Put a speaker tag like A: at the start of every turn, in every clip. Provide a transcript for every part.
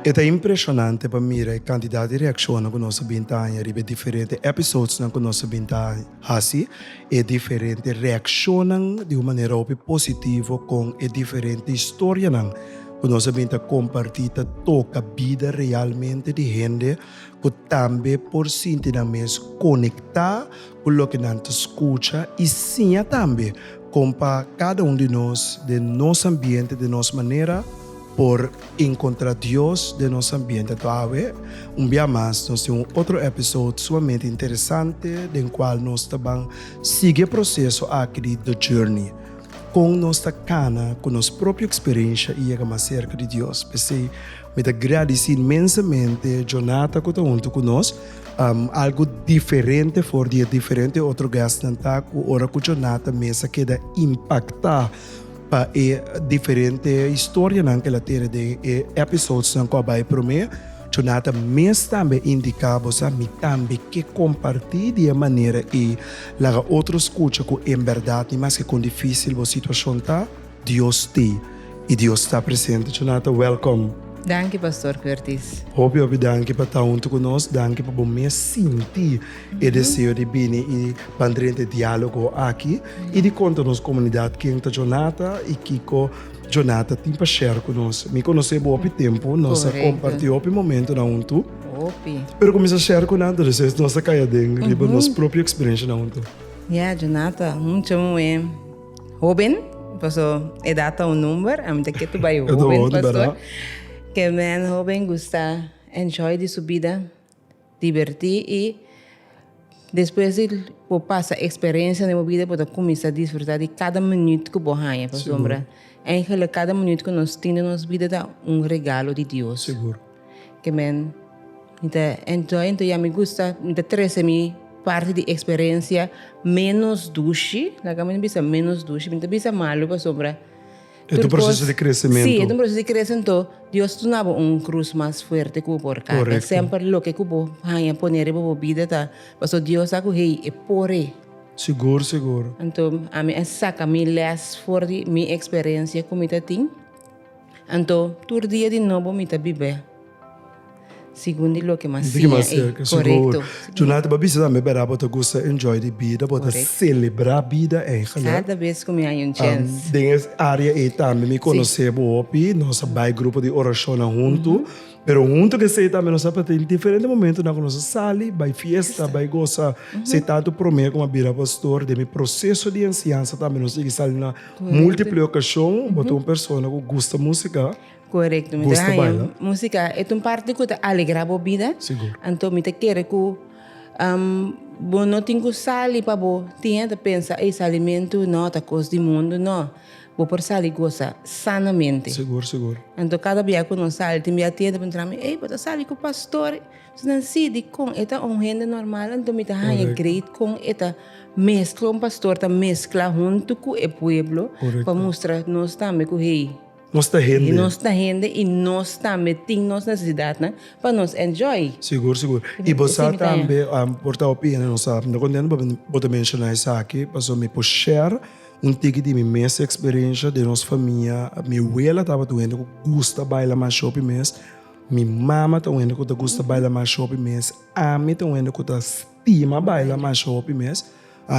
A: E ta impresionante pa mira e kantidat di reakshonnan ku nos a bin ta haña riba e diferente episodesnan ku nos a bin ta hasi. E diferente reakshonnan di un manera hopi positivo kon e diferente historianan ku nos a bin ta kompartí ta toka bida realmente di hende ku tambe por sinti nan mes konektá ku loke nan ta skucha i siña tambe kon pa kada un di nos den nos ambiente, den nos manera, por enkontrá Dios den nos ambiente. Anto awe, un bia mas, nos tin un otro èpisode sumamente interesante den kual nos ta ban sigui e proseso aki di The Journey, kon nos ta kana ku nos propio eksperensha i yega mas serka di Dios. P'esei, Mi ta gradici inmensamente Jonathan cu ta hunto cu nos. Algo diferente for di e diferente otro guestnan ta cu ora cu Jonathan mes a keda impacta pa e diferente historianan cu el a tene den e episodesnan cu a bay prome, Jonathan mes tambe a indica, bo sa, mi tambe ke comparti di e manera ey, laga otro scucha cu en berdad ni mas ke con dificil bo situacion ta. Dios ti y Dios ta presente cho nan ta welcome. Danki Pastor Curtis. Hopi hopi danki pa ta huntu cu nos, danki pa bo mes sinti e deseo di bini y bandrenta e dialogo aki y di conta nos comunidad ken ta Jonata y kico Jonata tin pa share cu nos. Mi conoce bo hopi tempo, nos a comparti hopi momentonan huntu, pero cu mi sa share cu nan ta deseo es nos ta caya den riba nos propio experiencianan huntu. Ya Jonata, mucha muhe. Hoben, paso edad ta un number, ami ta kier tur bai hoben, paso ke men hoben gusta enjoy di su bida, diverti i despues di bo pasa experencia den bo bida bo ta cuminsa disfruta di cada minuut cu bo haya, pasobra, eigenlijk cada minuut cu nos tin den nos bida ta un regalo di Dios. Amen. Mi ta enjoy anto ya mi gusta mi ta trece mi parti di experiencia menos dushi, laga mi no bisa menos dushi, mi no ta bisa malo pasobra tur cos. E ta un proceso di crecemento. Si, e ta un proceso di crece anto Dios duna bo un cruz mas fuerte cu bo por carga. Correcto. Semper loke cu bo haya pone riba bo bida ta paso Dios sa cu hey e por e. Sigur, sigur. Anto ami a saca mi les for di mi experiencia cu mi ta tin. Anto, tur dia di nobo mi ta bib'é segun di loke Masiya i. Korekto. Djuna ta bisa tambe bera bo ta gusta enjoy di bida, bo ta selebrá bida eingelik. Kada bes ku mi haña un chèns. Den es área ei tambe mi konosé bo hopi, nos a bai grupo di orashonnan huntu, pero huntu ku esei tambe nos a tin diferente momentunan ku nos a sali bai fiesta, bai gosa. Esei tantu promé ku mi a bira pastor, den mi proseso di enseñansa tambe nos a sigui sali na. Multiple ocasion, bo ta un persona cu gusta musica. Correcto, mi gusta baila. Musica e un parte cu ta alegra bo vida. Sigur. Anto mi ta kere cu um, bo no tin cu sali pa bo tin ta pensa, ei, salimentu no, ta cos di mundo, no. Bo por sali goza sanamente. Sigur, sigur. Anto cada bia cu nos sali, tin bia tin e ta puntra mi, ei, bo ta sali cu pastor? So nan si di kon e ta un hende normal anto mi ta haña great kon e ta meskla, un pastor ta meskla huntu ku e pueblo pa mustra nos tambe ku hey, nos ta hende, nos ta hende i nos tambe tin nos nesesidatnan pa nos enjoy. Sigur, sigur. I bo sa tambe, por ta hopi hende no sa. Mi ta kontento pasobra bo ta menshona esaki, pasobra mi por share un tiki di mi mes eksperensha den nos famia. Mi wela tabata un hende ku gusta baila masha hopi mes. Mi mama ta un hende ku ta gusta baila masha hopi mes. Ami ta un hende ku ta stima baila masha hopi mes.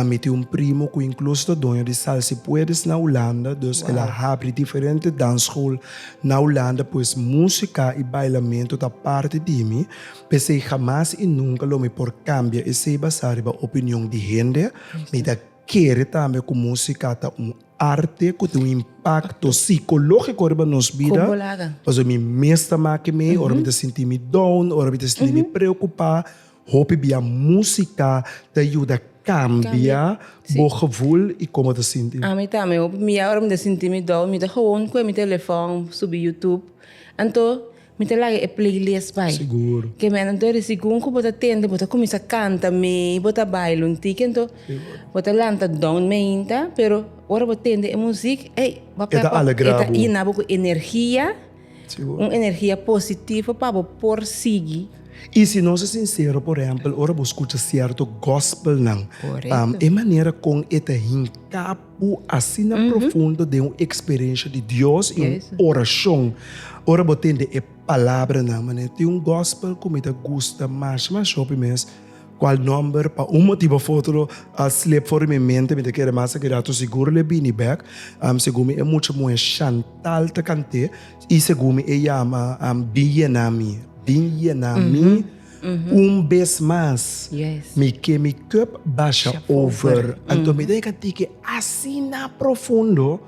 A: Mi tin un primo ku inkluso ta doño di Sal Si Puedes na Hulanda, dus el a habri diferente dans school na Hulanda. Pues músika i bailamentu ta parti di mi, p'esei hamas i nunka lo mi por kambia esei basá riba opinion di hende. Mi ta kere tambe ku músika ta un. Arte cu tin un impacto psicologico riba nos bida. Con bo laga. Pasobra mi mes ta make me, ora mi ta sinti mi down, ora mi ta sinti mi preocupa, hopi bia musica ta yuda cambia bo gevoel y como ta sinti. A mi tambe, hopi bia ora mi ta sinti mi down, mi ta gewoon cu e mi telefoon, subi YouTube. Anto. Mi ta laga e playlist bai. Sigur. Ke mene dori segun ku bo ta tende bo ta kuminsá kanta mei, bo ta baila un tiki anto bo ta lanta dònt meinta, pero ora bo tende e muzik ey bo E ta alegrá bo. ta yena bo ku energia, Sigur. un energia positivo pa bo por sigui. I si nos ta sinsero, por ehèmpel ora bo skucha sierto gospelnan, Korekto. e manera kon e ta hinká Bo asina profundo den un eksperensha di Dios i un orashon ora bo tende e palabranan. Manera tin un gòspel ku mi ta gusta masha masha hopi mes, kual nòmber pa un motibu òf otro a slep for di mi mente, mi ta keda mas aki rato sigur lo e bini bèk. Segun mi e mucha muhé Chantal ta kant'é i segun mi e yama Bin yena mi, bin yena mi. Un bes mas mi ke mi kòp basha over. Anto mi ta llega tike asina profundo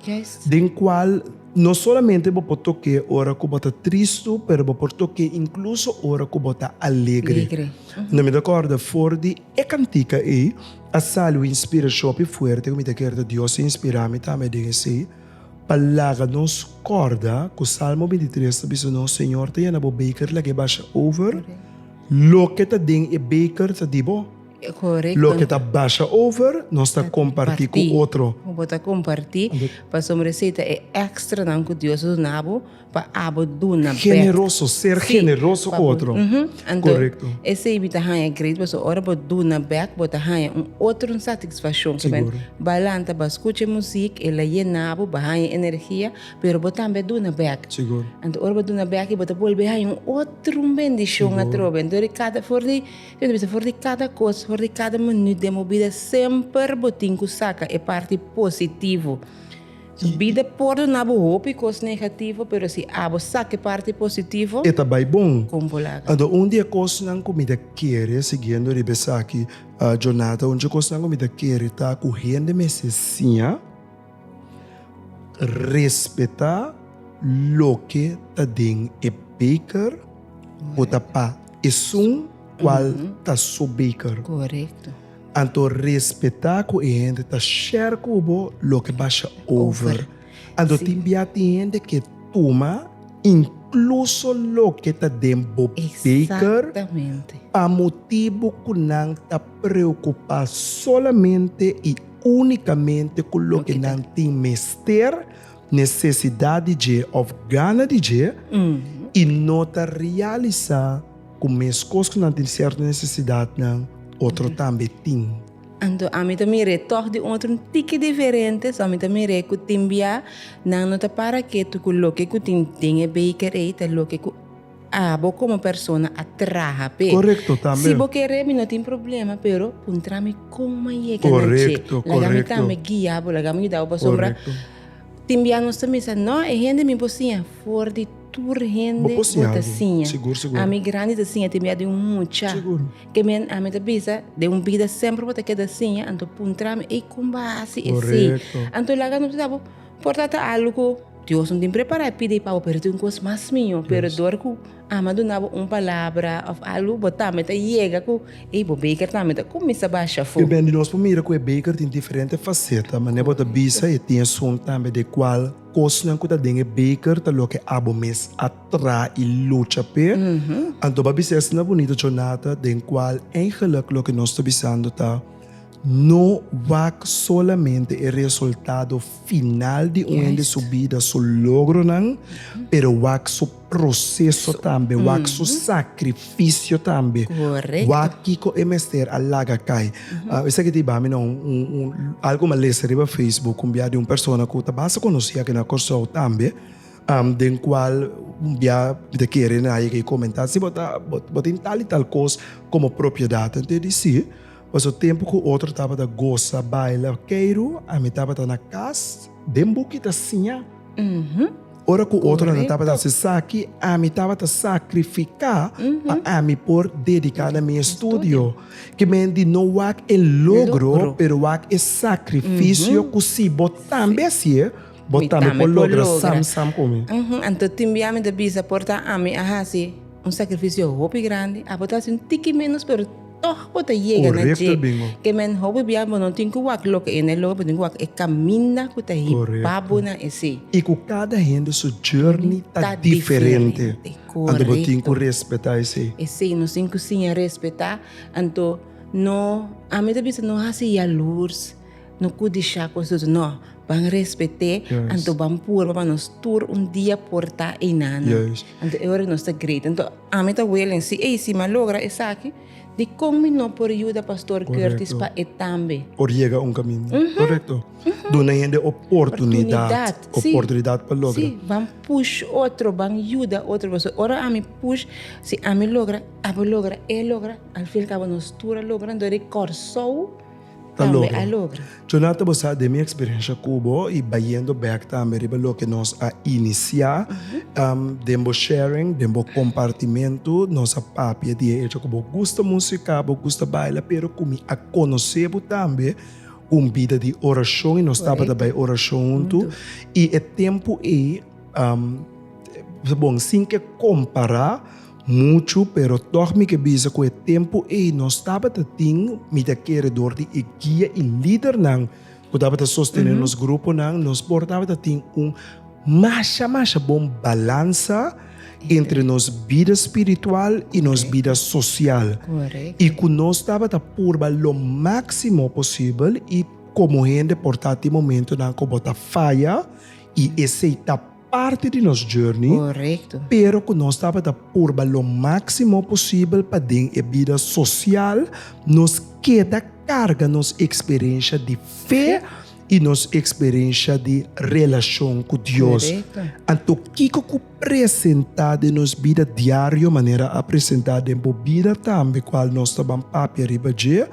A: den cual no solamente bo por toke ora cu bo ta tristu pero bo por toke incluso ora cu bo ta alegre. Mi ta corda for di e cantica ey a sali un inspiracion hopi fuerte cu mi ta kere ta Dios a inspira mi tambe den esey. Pa laga nos kòrda ku Salmo bintitres ta bisa nos, Señor ta yena bo beker laga e basha over, loke ta den e beker ta di bo. Correcto. Loke ta basha over nos ta kompartí ku otro. Bo ta kompartí, pasobra esei ta e èkstranan ku Dios a duna bo. Pa abo duna bek. Generoso, ser generoso ku otro. Korekto. Esei mi ta haña great pasobra ora bo duna bek bo ta haña un otro satisfakshon. Siguro. Ba lanta ba skucha e musik, el a yena bo, bo haña energia, pero bo tambe a duna bek. Siguro. Anto ora bo duna bek aki bo ta bolbe haña un otro bendishon atrobe. Anto di kada, for di, mi ta bisa for di kada kos, for di kada minüt den bo bida semper bo tin ku saka e parti positivo. Su bida por donabo hopi cos negativo, pero si abo saca e parti positivo, e ta bay bon. con bo laga? Ando un di e cosnan cu mi ta kere, siguiendo riba esaki, Jonathan, un di e cosnan cu mi ta kere ta cu hende mester siña respeta loke ta den e beker cu ta pa esun cual ta su beker. Correcto. Anto respetá ku e hende ta share ku bo loke basha over. Anto tin bia tin hende ke tuma inkluso loke ta den bo beker pa motibu ku nan ta preokupá solamente i únikamente ku loke nan tin mester, nesesidat di dje òf gana di dje i no ta realisá. Ku meskos ku nan tin sierto nesesidatnan, otro tambe tin. Anto ami ta mir'é tòg di un otro un tiki diferente, so ami ta mir'é ku tin bia nan no ta para ketu ku loke ku tin den e beker ei ta loke ku abo komo persona a traha p'e. Korekto tambe. Si bo kere mi no tin problema, pero puntra mi kon m'a yega na dje. Korekto, Laga mi korekto. tambe guia bo, laga mi yuda bo pasobra Korekto. tin bia nos ta misa no e hende mi por siña for di Tur hende bo ta siña. Ami grandi ta siña te mia den un mucha. Ke men ami ta bisa, den un bida semper bo ta keda siña, anto puntrami, ey kon bo a hasi esei? Anto laga no bisa bo, por tata algu ku Dios no tin prepara e pidi pa bo, pero tin un kos mas miño, pero dor ku Ama a duna bo un palabra of algu, bo tambe ta yega ku ey bo beker tambe ta kuminsá basha afó. Bibendi nos por mira ku e beker tin diferente faseta, manera bo ta bisa e tin esun tambe de kual. Kosnan ku ta den e beker ta loke abo mes a tra i lucha p'e. Anto b'a bisa esna bunita jornada den kual eigenlik loke nos ta bisando ta, No wak solamente e resultado final di un hende su bida, su logronan, pero wak su. proseso tambe, wak su sakrifisio tambe, wak kiko e mester a laga kai. Esaki ta hiba mi na un algu mi a lesa riba facebook kumbia di un persona ku ta basta konosí aki na Kòrsou tambe, den kual un bia mi ta kere na yega i komentá, si bo ta bo tin tal i tal kos komo propiedat, anto e di si, pasobra tempu ku otro tabata gosa, baila, keiru, ami tabata na kas den buki ta siña. Ora ku otronan tabata hasi esaki, ami tabata sakrifiká pa ami por dediká na mi estudio. Ki men di no wak e logro, pero wak e sakrifisio ku si bo tambe hasié, bo tambe por logra samsam ku mi. Anto tin bia ami ta bisa, por ta ami a hasi un sakrifisio hopi grandi, abo ta hasi un tiki ménos, pero. Tòg bo ta yega na dje ke men hopi bia bo no tin ku wak loke e, na e loke bo tin ku wak e kaminda ku ta hiba bo na esei. I ku kada hende su journey ta diferente, anto bo tin ku respetá esei. Esei, nos tin ku siña respetá, anto no, ami ta bisa no hasi yalurs. No cu disha cu esnan no ban respet'e, anto ban purba pa nos tur un dia porta enanan. Anto e ora cu nos ta grita. Anto ami ta willing, si ey, si mi a logra esaki, dicon mi no por yuda Pastor Curtis pa e tambe? Por yega un caminda. Correcto. Duna e hende oportunidad. Oportunidad pa logra. Si, ban push otro, ban yuda otro. Pasobra ora ami push, si ami logra, abo logra, e logra, al fin y al cabo nos tur a logra, anto di Corsou. ta logra. Jonathan bo sa den mi experiencia cu bo y bayendo back tambe riba loke nos a inicia den bo sharing den bo compartimento nos a papia di e hecho cu bo gusta musica bo gusta baila pero cu mi a conoce bo tambe un bida di oracion y nos tabata bay oracion hunto y e tempo ey ta bon sin ke compara. Muchu, pero tòg mi ke bisa ku e tempu ei nos tabata tin mit akeredor di e guia i lidernan ku tabata sostené nos gruponan. Nos por tabata tin un masha masha bon balansa entre nos bida spiritual i nos bida sosial i ku nos tabata purba lo máksimo posibel i komo hende por ta tin momentunan ku bo ta faya i esei ta. parti di nos journey, pero ku nos tabata purba lo máksimo posibel pa den e bida sosial nos keda karga nos eksperensha di fe i nos eksperensha di relashon ku Dios. Anto kiko ku presentá den nos bida diario manera a presentá den bo bida tambe kual nos ta ban papia riba dje?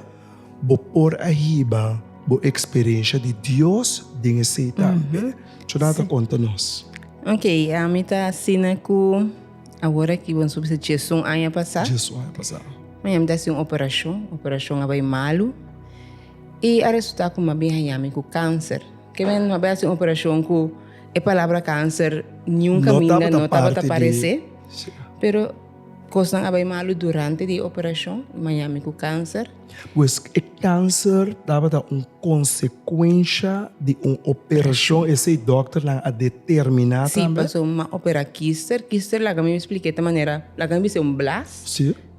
A: Bo por a hiba bo eksperensha di Dios den esei tambe. Tjonat a konta nos. Ok, ami ta asina ku awor aki bo subi se Djesun aña pasá. Djesun aña pasá. Mi ami ta hasi un operashon, operashon a bai malu i a resultá ku mi a bin haña mi ku kanser. Ke men mi a bai hasi un operashon ku e palabra kanser niun kaminda no tabata parese, pero. Kosnan a bai malu durante di e operashon i Miami ku kanser. Pues e kanser tabata un konsekuensha di un operashon esei dòkternan a determiná tambe? Si, paso m'a operá kister. Kister laga mi splik'é ta manera, laga mi bis'é un blas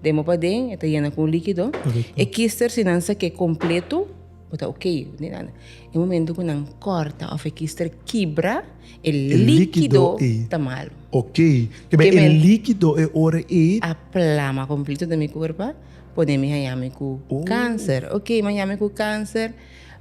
A: den bo paden, e ta yena ku un líkido. E kister si nan sak'é kompletu. Bo ta ok. E momento ku nan kòrta òf e kister kibra, e líkido ta malu. Ok. Kibè e líkido e ora ei. A plama kompleto den mi kuerpo a pone mi haña mi ku kanser. Ok, mi haña mi ku kanser,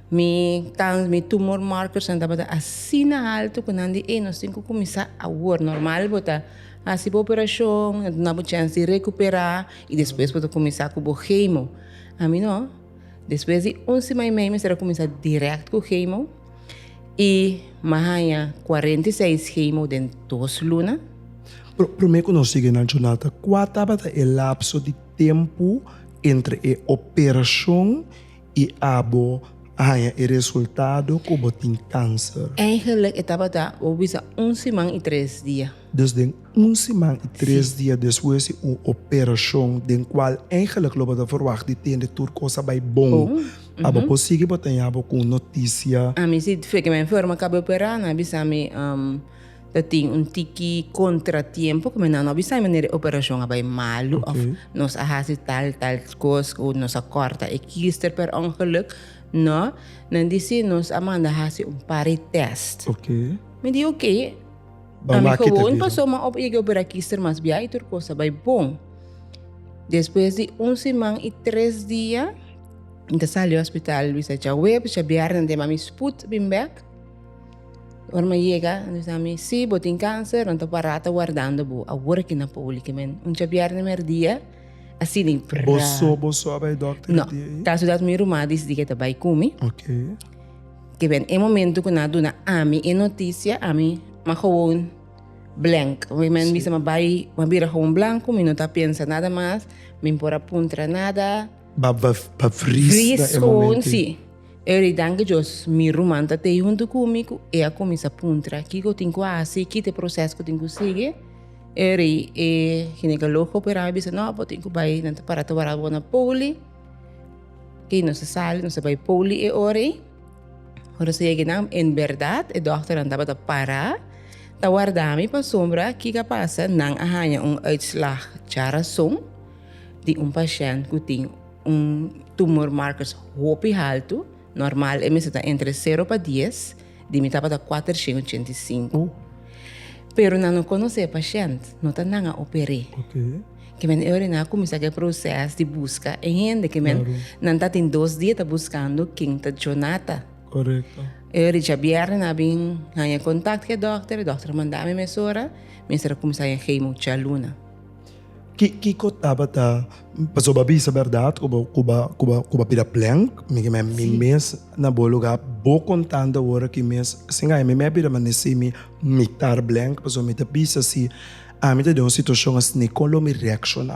A: mi tan, mi tumor markers nan tabata asina alto ku nan di ey nos tin ku kuminsá awor. Normal bo ta hasi bo operashon, nan ta duna bo chèns di rekuperá i despues bo ta kuminsá ku bo hemo. A mi no. Despues di un sima i mei mester a kuminsá dirèkt ku hemo i m'a haña kuarenta i seis hemo den dos luna. Promé ku nos sigue nan jornada, kua tabata e lapso di tempu entre e operashon i abo haña e resultado ku bo tin kánser? Eingelik e tabata, bo bisa un siman i tres dia. Dus den un siman i tres dia despues di un operashon den kual eingelik lo bo ta verwagt di tende tur kos a bai bon, a bo por sigui bo ta yaña bo ku un notisia? Ami si fue ke mi a enferma kabe operá, nan a bisa mi ta tin un tiki kontratiempo ku mi nan no a bisa mi manera e operashon a bai malu òf nos a hasi tal tal kos o nos a kòrta e kister per ongeluk. Nò, nan di si nos a manda hasi un par di tèst. Mi di oké. Ban maki ta bira. Ami gewoon paso man op yega bira kister mas biaha y tur cosa bay bon. Despues di un siman y tres dia mi ta sali hospital bisa dja webs dja bierne den mami spoed bin bek. Ora mi a yega nan bisa ami si bo tin cancer nan ta para ta wardando bo awor aki na poli ki men un dja bierne mi herdia asi di pra. Boso boso a bay dokter herdia ahi? No caso dat mi ruma a disidi ke ta bay cu mi. Okay. Te ben e momento ku nan a duna ami e notisia, ami ma gewoon blank. Wen men bisa ma bai, ma bira gewoon blanco, mi no ta pensa nada mas, mi por a puntra nada. Ba, ba, ba vris na Vris e gewoon, momento. si. E di danki Dios, mi ruman ta tei huntu ku mi ku e a kuminsá puntra kiko tin ku hasi, ki ta e proseso ku tin ku sigui. E di e ginekologo operá mi a bisa, no, bo tin ku bai, nan ta pará ta wara bo na Poli. Oké, nos a sali, nos a bai poli e ora ei. Ora nos a yega nan, en berdad, e dòkternan tabata pará, ta warda mi pa sombra kiko a pasa, nan a haña un uitslag djarason di un pashènt ku tin un tumormarkers hopi haltu. Normal e mester ta entre sero pa dies, di mi tabata kuater shen ochenta i sinku. Pero nan no konosé e pashènt, no ta nan a oper'é. Ke men e oriná kuminsá ku e proses di buska e hende ke men nan ta tin dos dia ta buskando ken ta Jonata. E ori dja bièrnè nan a bin haña kontakt ku e dòkter, e dòkter a mandá mi mesora, mi mester a kuminsá haña hemo djaluna. Kiko tabata pasobra bisa berdad cu ba bira plen mi mes na bo lugar bo contando awor aki mes sin gaya mi me a bira ma ne simi mi tar blen pasobra mi ta bisa si ami ta den un situacion asina con lo mi reacciona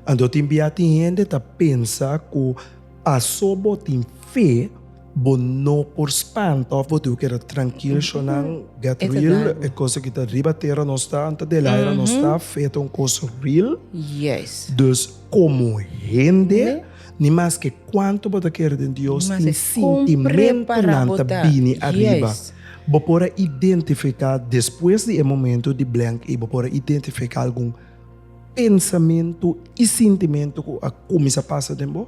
A: anto tin bia tin hende ta pensa cu paso bo tin fe. Bo no por spanta of bo diu keda trankil sho nan get Esa real dan. e cosa ki ta riba tera no sta anta de el aira no sta fe ta un cosa real Yes. dus como hende Ne. ni mas ke cuanto bo ta kere den Dios Ni mas tin e con sintimento prepara nan bo ta ta. bini ariba Yes. bo por a identifica despues di e momento di blank ei bo por a identifica algun pensamento y sintimento cu a cuminsa pasa den bo?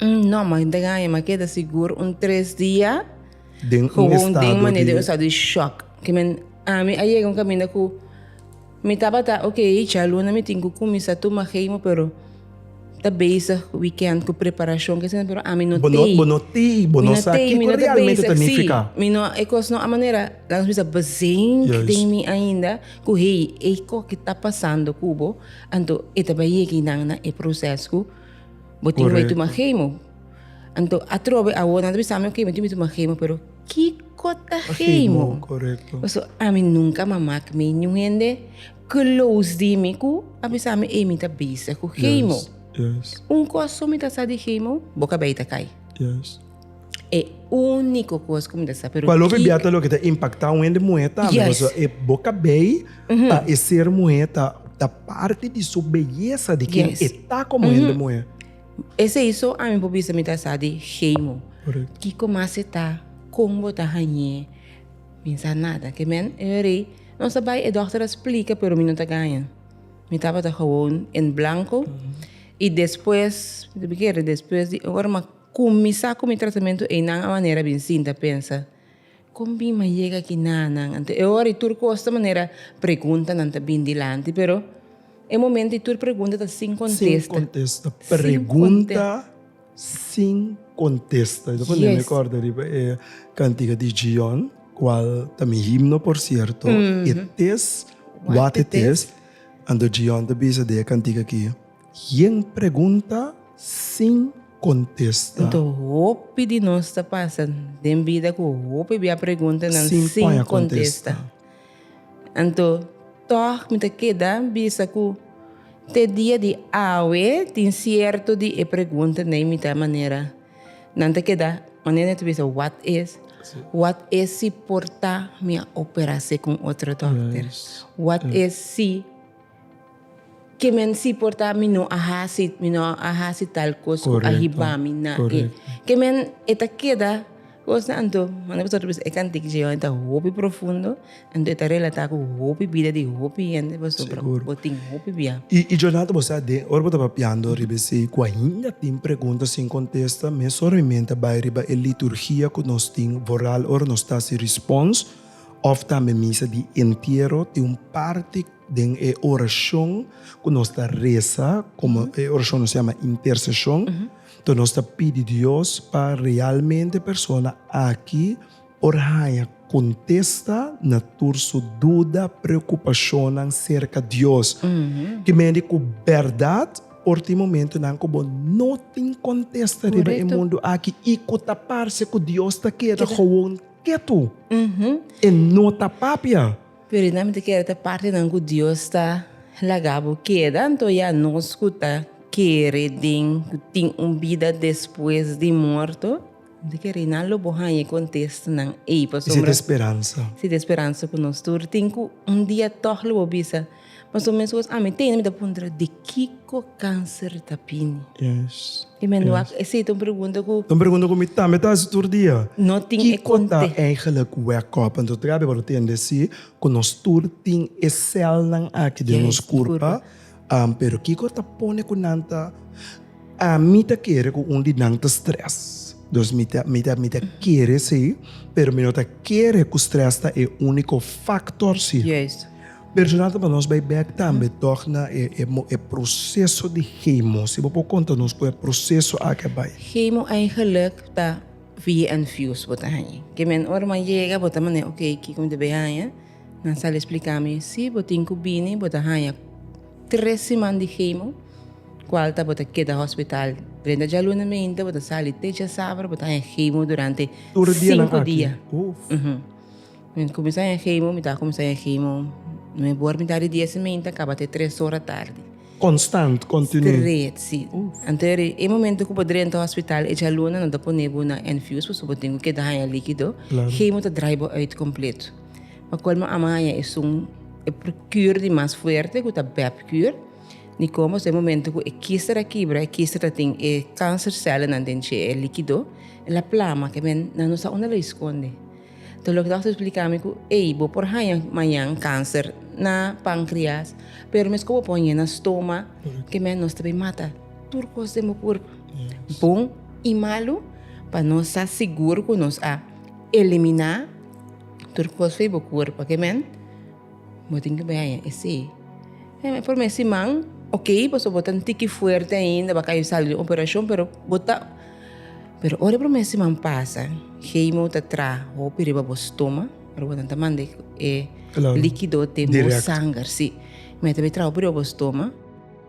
A: Mm, no, ma den aña ma keda sigur un tres dia. Den un Gewoon estado den manera di- den un estado di shock. Ke men, ami a yega un kaminda ku mi tabata ok, djaluna mi tin ku kuminsá tuma hemo, pero ta bezig weekend ku preparashon ke eseinan, pero ami no Bo no, tei. bo no tei, bo Mi no sa tei, mi kiko no ta realmente ta bezig, sí. nifiká. Mi no, e kos no a manera, laat ons bisa, bezink Juist. den mi ainda, ku hey, e kos ke ta pasando kubo, anto e ta bai yega nan na e proseso ku Bo tin bai tuma hemo. Anto atrobe awor nan ta bisa mi oke mi tin bai tuma hemo pero kiko ta hemo? Pasobra ami nunka a mak mi niun hende close di mi ku a bisa mi ey mi ta bezig ku hemo. Un kos su mi ta sa di hemo bo ka bai ta kai. E úniko kos ku mi ta sa, pero ki. Palobe bia ta loke ta impaktá un hende muhé tambe, pasobra e boka bei pa e ser muhé ta parti di su beyesa di ken e ta komo hende muhé. Esei so ami por bisa mi ta sa di Heimo. Kiko mas e ta? Kon bo ta hañ'é? Mi sa nada. Ke men, e wea rei, nos a bai, e dòkter a splika, pero mi no ta gaña. Mi tabata gewoon en blanko i despues, mi ta bikere, despues di ora Con mi sa cu mi tratamento eynan a manera bin sin ta pensa, Con bin m'a yega aki na nan? Anto e ora y tur cos ta manera preguntanan ta bin dilanti, pero e momento y tur pregunta ta sin contesta. Sin contesta, pregunta sin contesta. Y ta pone mi corda riba e cantiga di Gion, cual ta mi himno por cierto, It is What It Is. Anto Gion ta bisa di e cantiga aki. Yen pregunta sin contesta. Nto hopi di nos ta pasa den bida cu hopi bia preguntanan sin contesta. Anto tog mi ta keda bisa cu te dia di awe tin cierto di e pregunta na e mita manera nan ta keda manera nan ta bisa wat is, wat is si por ta mi a opera así con otro dokter, wat is si. Ke men si por ta mi no a hasi, mi no a hasi tal kos ku a hiba mi na e. Ke men e ta keda kosnan anto manda pasobra ta bisa e kantik dje yohonan ta hopi profundo, anto e ta relatá ku hopi bida di hopi hende pasobra bo tin hopi bia. I Jonathan bo sa den ora bo ta papiando riba esei ku ainda tin pregunta sin kontesta, mi a sor mi mente a bai riba e liturgia ku nos tin vooral ora nos ta hasi respons òf tambe misa di entiero tin un parti Den e orashon ku nos ta resa, komo e orashon nos yama interseshon, to nos ta pidi Dios pa realmente persona aki por haña kontesta na tur su duda, preokupashonnan serka Dios. Ki mende ku bèrdat por tin momentunan ku bo no tin kontesta riba e mundu aki i ku ta parse ku Dios ta keda gewoon ketu, e no ta papia. Pero i nami ta kere ta partinan ku Dios ta laga bo keda, anto i anos ku ta kere den ku tin un bida despues di morto? Mi ta kere i nan lo bo haña e kontestanan ei, pasobra. I si ta speransa? Si ta speransa ku nos tur tin ku un dia tòg lo bo bisa. Mas o menos cos ami tende mi ta puntra di kico cancer ta bini. Yes. Y me no ac, ese ta un pregunta cu. Ta un pregunta cu mi tambe ta haci tur dia. No tin e conte. Kico ta eigenlijk wake up? Anto traha mi wou tende si cu nos tur tin e celnan aki den nos curpa, pero kico ta pone cu nan ta, ami ta kere cu un di nan ta stress, dus mi ta mi ta mi ta kere si, pero mi no ta kere cu stress ta e unico factor si. Juist. Personal ta nos bay bek tambe tog na e proceso di chemo, si bo por conta nos cu e proceso aki a bay. Chemo eigenlijk ta via infuse bo ta haña, ke men ora nan yega bo ta mane ok kico mi debe haña, nan sal explica mi si bo tin cu bini bo ta haña tres siman di chemo cual ta bo ta keda hospital drenta djaluna mente bo ta sali te djasabra bo ta haña chemo durante cinco dia. Mi kuminsá e hemo, mi tabata kuminsá e hemo me bor mitad di dies y meinta kaba te tres ora tardi. Konstant, kontinú? Stret, sí. Anto eri e momento ku bo drenta hospital, e djaluna no ta pone bo na infuse pasobra bo tin ku keda haña líkido, hemo ta drai bo uit kompleto. Pa kolmo amo haña esun, e kür di mas fuerte ku ta bèpkür, ni kon pasobra e momento ku e kister a kibra, e kister ta tin e kansersèlnan den dje, e líkido, el a plama, ke men nan no sa unda lo a eskonde. Tur loke dòkter spliká mi ku, Ey, bo por haña mañan kanser na pankrias, pero meskos bo pone na stoma, ke mèn nos ta bin mata tur kos den bo kuerp, bon i malu, pa nos sa sigur ku nos a eliminá tur kos fe'e bo kuerp. Oke mèn? Bo tin ke bai haña esei. He, e prome siman, ok, pasobra bo ta un tiki fuerte ainda, bo a kaya sali di un operashon, pero bo ta. Pero ora e prome siman pasa, hemo ta tra hopi riba bo stoma, ora bo ta ta manda e likido den bo sanger, si. Mi a ta bai tra hopi riba bo stoma,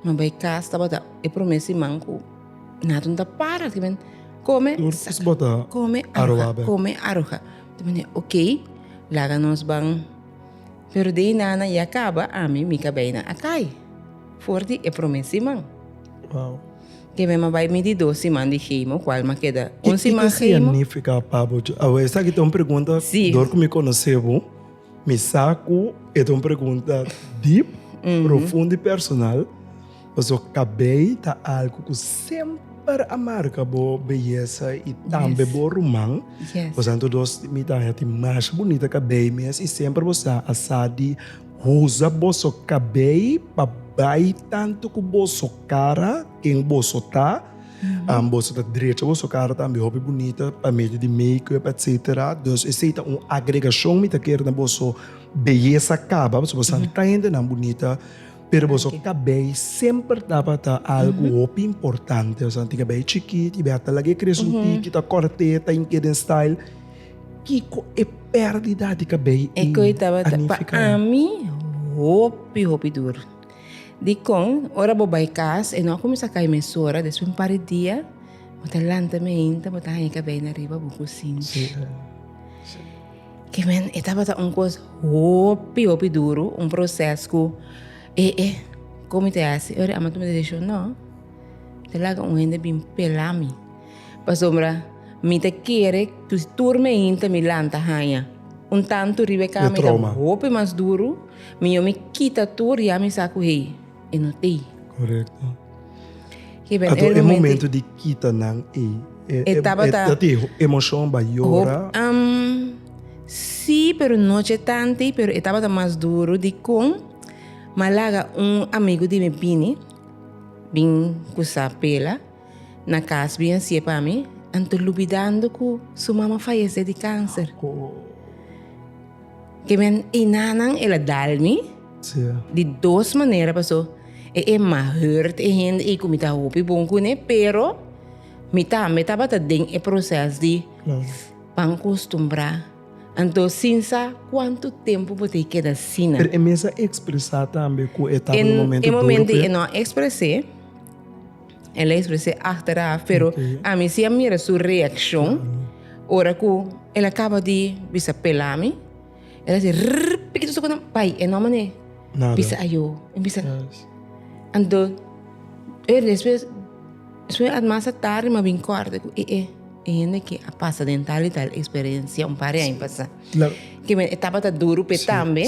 A: mi a bai kas, tabata e prome siman ku nato no ta para, kome, saka, kome, aroha, kome, aroha. Ta mene, ok, laga nos ban. Pero di hinana ya caba, ami mi ta bay na Akai for di e prome siman. Wow. Ke mi ma bay mi di dos siman di hemo, cual ma keda un siman hemo. Significa pabo? Esaki ta un pregunta, door cu mi conoce bo. Mi sa ku e ta un pregunta dip, profundo i personal, paso kabei ta algu ku semper a marka bo beyesa i tambe bo ruman. Bo sa anto dos mi ta haña tin masha bunita kabei mes i semper bo sa a sa di usa boso kabei pa bai tantu ku boso kara, ken boso ta. An boso ta drecha boso kara tambe hopi bunita pa medio di makeup etcetera dus esey ta un agregashon mi ta kere na boso beyesa kaba pasobra boso an ta hendenan bunita pero boso kabei semper tabata algu hopi importante boso an tin kabei chikit y biaha ta lag'e krese un tiki ta kòrt'e ta hinke'e den style kiko e pèrdida di kabei a nifiká. Ecu tabata pa ami hopi hopi dur. Dikon, ora bo bai kas, e no a kuminsá kai mesora, despues un par di dia, bo ta lanta meinta, bo ta haña kabei na riba bo kusinchi. Ke men, e tabata un kos hopi, hopi duru, un proses ku, e, e, kon mi te hasi? Ora ama tuma desishon? No, mi ta laga un hende bin pela mi. Pasobra mi ta kere ku tur meinta mi lanta haña un tantu riba e kama, i ta hopi mas duru. Mi yo mi kita tur ya mi sa ku hei e no tei. Korekto. Ato e momento di kita nan ei e tabata emoshon bayora? Si pero no che tanti pero e tabata mas duru dikon ma laga un amigu di mi bini bin kusa pela. Na cas bien sie pa mi, anto lubidando cu su mama fayece di cancer. Kemen einanan el a dal mi di dos manera paso e Emma hurt e hende ei cu mi ta hopi bon cu ne, pero mi tambe tabata den e proces di pan costumbra. Anto sin sa cuanto tempo bo ta keda asina. Pero e mester expresa tambe cu e taba un momento duro pe e? E momento ei e no a exprese. El a expres'é achteraf, pero ami si a mira su reaccion ora cu el a caba di bisa pela mi, el a dici, Rrrr, pikito su cu nan bai e nomber ne? Bisa ayo. Mi bisa, Ando, e despues, despues at mas a tardi mi a bin corda cu e e e hende aki a pasa den tal y tal experiencia un par di aña pasa. Kimen e tabata duru p'e tambe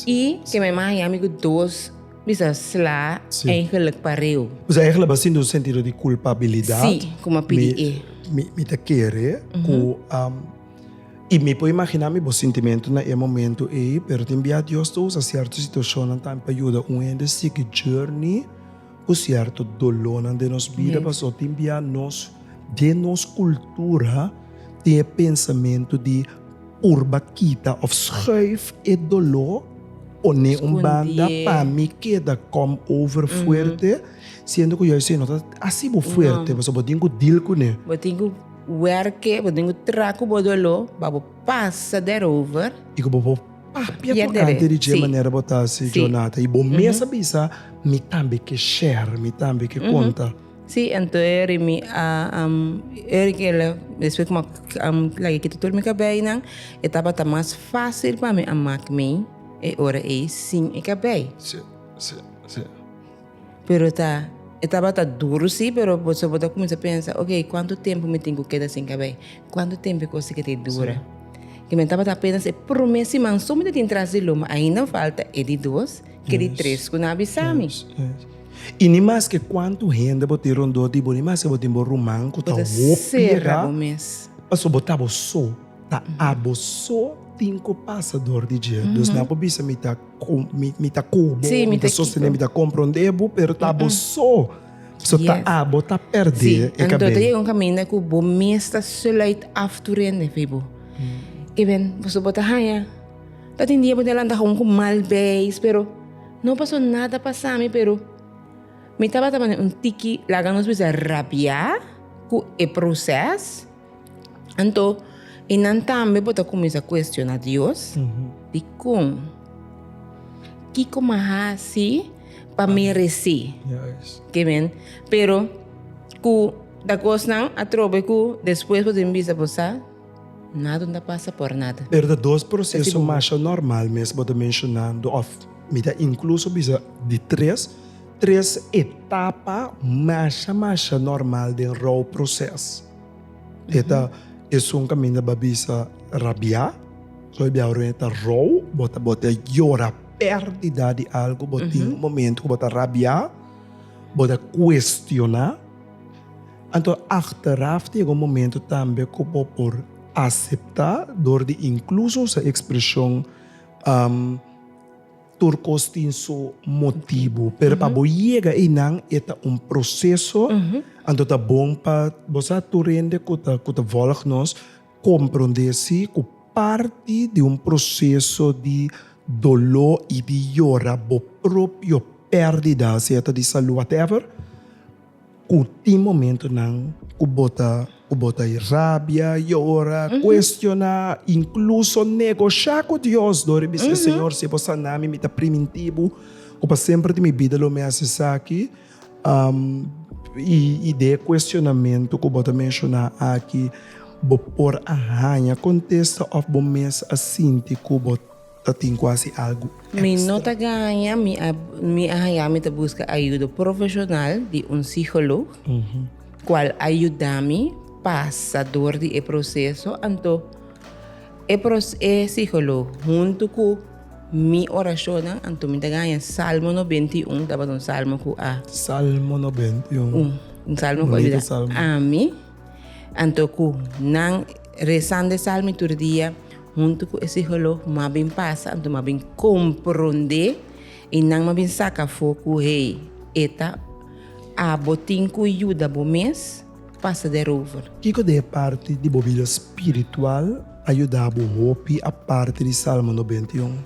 A: y kimen mas haña ami cu dos. Mi sa sla eigenlik pa reu. Mi sa eigenlik a sinti un sentido di culpabilidad. Si, como a pidi e. Mi, mi ta kere cu, um, y mi por imagina mi bo sentimento na e momento ey, pero tin bia Dios ta usa cierto situacionnan tambe pa yuda un hende sigui journey cu cierto dolornan den nos bida, pasobra tin bia nos, den nos cultura, tin e pensamento di. Urba kita of schuif e doló poné un banda pa mi keda kom over fuerte siendo ku juis no ta asi bo fuerte pasobra bo tin ku deal kuné. Bo tin ku werke bo tin ku traha ku bo doló pa bo pasa der over. I ku bo por papia ku ante di dje manera bo ta hasi djornata i bo mes a bisa mi tambe ke share mi tambe ke konta. Sí, anto e ri mi a e ri ke la despues ku mi a laga kita tur mi kabeinan e tabata mas fácil pa mi a mak mi e ora ei sin e kabei. Sí, sí, sí. Pero ta e tabata duru sí, pero bo so bo ta kuminsá pensa, ok, kuantu tempu mi tin ku keda sin kabei? Kuantu tempu e kos ei ke ta dura? Ke mi a tabata apenas e promé siman so mi ta tin tras di lo, ma ainda falta e di dos. ke di tres ku nan a bisa mi. I ni maske kuantu hende bo tin rondó di bo, ni maske bo tin bo ruman ku ta hopi edá, pasobra bo ta bo so, ta abo so tin ku pasa dor di dje. Dus nan por bisa mi ta mi ta kubu, mi ta sostené, mi ta komprondé bo, pero ta bo so, so ta abo ta pèrdè e kabei. Anto ta yega un kaminda ku bo mes ta sula it af tur hende fi bo. I den, pasobra bo ta haña. Ta tin dia bo tin lanta houn ku mal beis pero no paso nada pasami pero mi tabata mane un tiki laga nos bisa rabia ku e proces anto i nan tambe por ta kuminsa kuestiona Dios dikon kiko mi a hasi pa merese kimin pero ku ta kosnan atrobe ku despues bo tin bisa bo sa. Nada no ta pasa por nada. Pero ta dos proceso masha normal mes bo ta mencionando of mi ta incluso bisa di tres tres etapa masha masha normal den rouw proces. E ta esun caminda ba bisa rabia, so e biahu rende ta rouw, bo ta bo ta yora perdida di algo, bo tin un momento cu bo ta rabia, bo ta cuestiona. Anto achteraf ta yega un momento tambe cu bo por acepta door di incluso usa e expresion tur cos tin su motibo. Pero pa bo yega eynan e ta un proceso, anto ta bon pa bo sa tur hende cu ta cu ta volg nos compronde si cu parti di un proceso di dolo y di yora bo propio perdida, sea ta di salud whatever, Ku tin momentunan ku bo ta ku bo ta e rabia, yora, kuestioná, inkluso negoshá ku Dios dor i bis'é, Señor, si e por saná mi, mi ta primintí Bo ku pa semper di mi bida lo mi hasi esaki? I di e kuestionamentu ku bo ta menshoná aki, bo por a haña kontesta òf bo mes a sinti ku bo. Ta tin cu haci algo extra. Mi no ta gaña, mi a haya mi ta busca ayudo profesional di un siholog cual a yuda mi pasa door di e proceso, anto e e siholog hunto cu mi oracionnan, anto mi ta gaña Salmo noventa i un, tabata un salmo cu a. Salmo noventa i un. Un salmo cu a yuda ami. Anto ku nan resando e salmi tur dia huntu ku e siholog mas bin pasa, anto mas bin komprondé i nan mas bin saka afó ku hey, e ta abo tin ku yuda bo mes pasa derover. Kiko den e parti di bo bida spiritual a yuda bo hopi aparte di Salmo nobenta i un?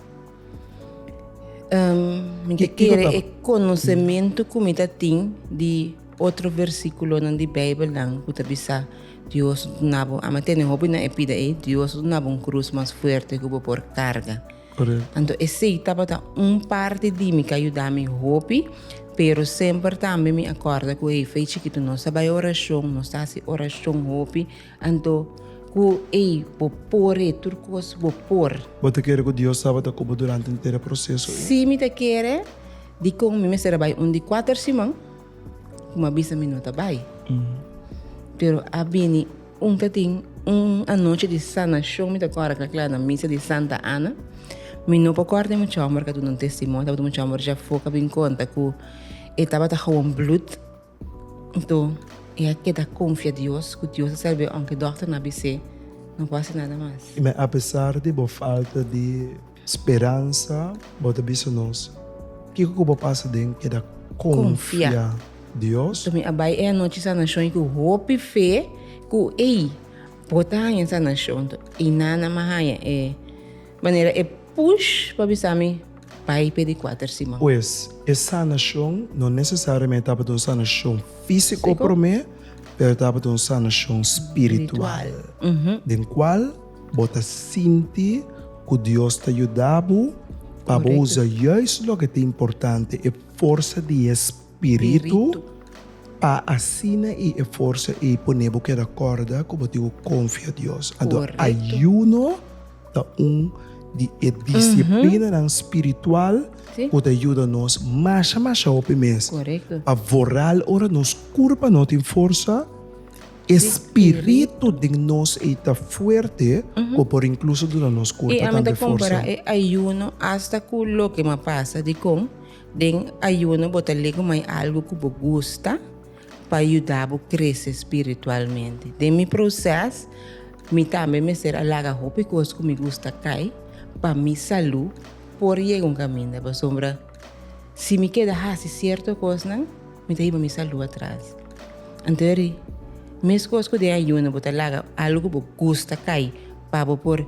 A: Mi ta kere e konosementu ku mi ta tin di. Otro versículonan di Bijbelnan cu ta bisa, Dios lo duna bo, ama tene hopi na e pida ei, Dios lo duna bo un cruz mas fuerte cu bo por carga. Correcto. Anto esey tabata un parti di mi ca yuda mi hopi, pero semper tambe mi a corda cu hey fey chikito nos ta bay oracion, nos ta haci oracion hopi, anto cu ey bo por hey tur cos bo por. Bo ta kere cu Dios tabata cu bo durante henter e proceso ei? Si mi ta kere, dicon mi mester a bay un di cuater siman? ku mi a bisa mi no ta bai. Pero a bini un ta tin un anochi di sanashon mi ta kora kla kla na misa di Santa Ana. Mi no por kor den mucha homber ka duna un testimonio, tabata mucha homber ja for ka bin konta ku e tabata hawon blut. Nto e a keda konfia Dios ku Dios a serbe aunke dokter no a bis'é no por hasi nada mas. Me apesar di bo falta di. Speransa, Bo ta bisa nos kiko ku bo pasa den keda konfia Dios? Bo ta mi a bai e anochi sanashon i ku hopi fe ku ei bo ta haña sanashon. I Nana mi a haña e manera e push pa bisami bai pa e di kuater siman. Pues, e sanashon no nesesariamente tabata un sanashon físiko promé, pero tabata un sanashon spiritual den kual. Bo ta sinti ku Dios ta yuda bo pa bo usa yais loke ta importante, e forsa di e Spiritu, pa asina i e forsa ei pone bo keda kòrda ku bo tin ku konfia Dios. Anto ayuno ta un di e disiplinanan spiritual ku ta yuda nos masha masha hopi mes pa voral ora nos kurpa no tin forsa. E spiritu den nos ei ta fuerte ku por inkluso duna nos kurpa tambe forsa. I ami ta kompara e ayuno asta ku loke mi a pasa dikon den ayuno bo ta liga mai algu ku bo gusta pa yuda bo krese spiritualmente. Den mi proses mi tambe mester a laga hopi kos ku mi gusta kai pa mi salu por yega un kaminda pasobra si mi keda hasi sierto kosnan. Mi ta hiba mi salú atras. Anto eri, meskos ku den ayuno bo ta laga algu ku bo gusta kai pa bo por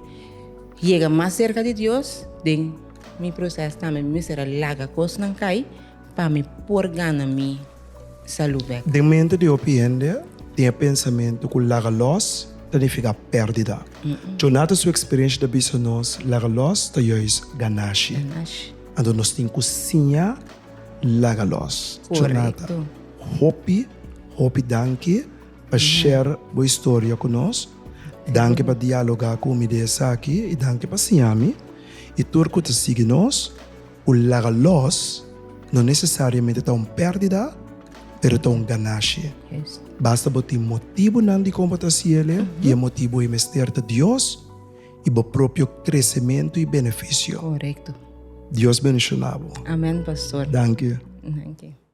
A: yega mas serka di Dios, den mi proses tambe mi mester a laga kosnan kai pa mi por gana mi salú bèk. Den mente di hopi hende tin e pensamentu ku laga lòs ta nifiká pèrdida. Jonathan su eksperiensha ta bisa nos laga lòs ta yùis ganashi. Anto nos tin ku siña laga los. Chonata, hopi hopi danki pa share bo historia ku nos, danki pa dialoga ku mi di esaki i danki pa siña mi. I tur ku ta sigui nos, un laga los no nesesariamente ta un perdida, pero ta un ganashi. Basta bo tin motibunan dikon bo ta hasiele, i e motibu ei mester ta Dios. i bo propio kresementu i benefisio. Korekto. Dios benishona bo. Amen, pastor. Danki. Danki.